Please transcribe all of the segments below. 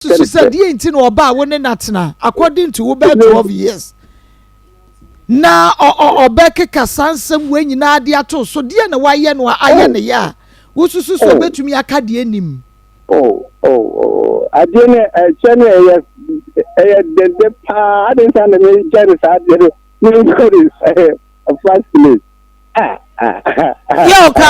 Susu sɛ deɛ nti na ɔbaa wo ne no atena according to wo bɛɛ twelve years na ɔbɛkeka saa nsɛm wei nyinaa de ato so deɛ na wayɛ no a ayɛ ne yɛ a wosusu sɛ ɔbɛtumi aka deɛ nim. adeɛ no ɛkyɛ no ɛyɛ ɛyɛ dɛndɛ paa ade nsa na mekyɛ no saa adeɛ no menkɔ ne nsa first place. yɛ ɔka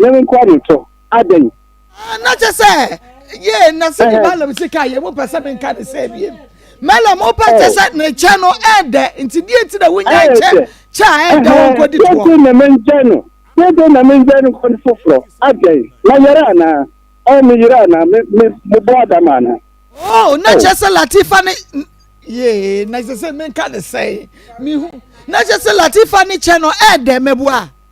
Yɛn nkoa de tɔ adɛn? Na kyɛ sɛ yee na sɛ ne Balaam si ka yɛ mo pɛ sɛ menka ne sɛ biem. Balaam wopɛ kyɛ sɛ ne kyɛ no ɛɛdɛ nti deɛ nti na wonya kyɛ kyɛ a ɛɛdɛ wɔn kɔdi toɔ. Deɛ nti na mengya no deɛ nti na mengya no kɔn foforɔ adɛn na yɛrɛ anaa ɔɔ me yere anaa me me mo bɔ adama anaa. Oh na kyɛ sɛ Latifa ne yee na kyɛ sɛ menka ne sɛ mehu na kyɛ sɛ Latifa ne kyɛ no ɛɛdɛ mɛboa.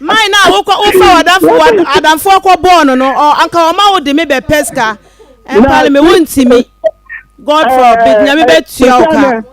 Mae no a wokɔ wofa ɔdamfo adamfo akɔ bɔɔ no no anka ɔma wo de me bɛ pɛ sika ɛmpale me wo ntimi Godfrey big nyame bɛ tua wo ka.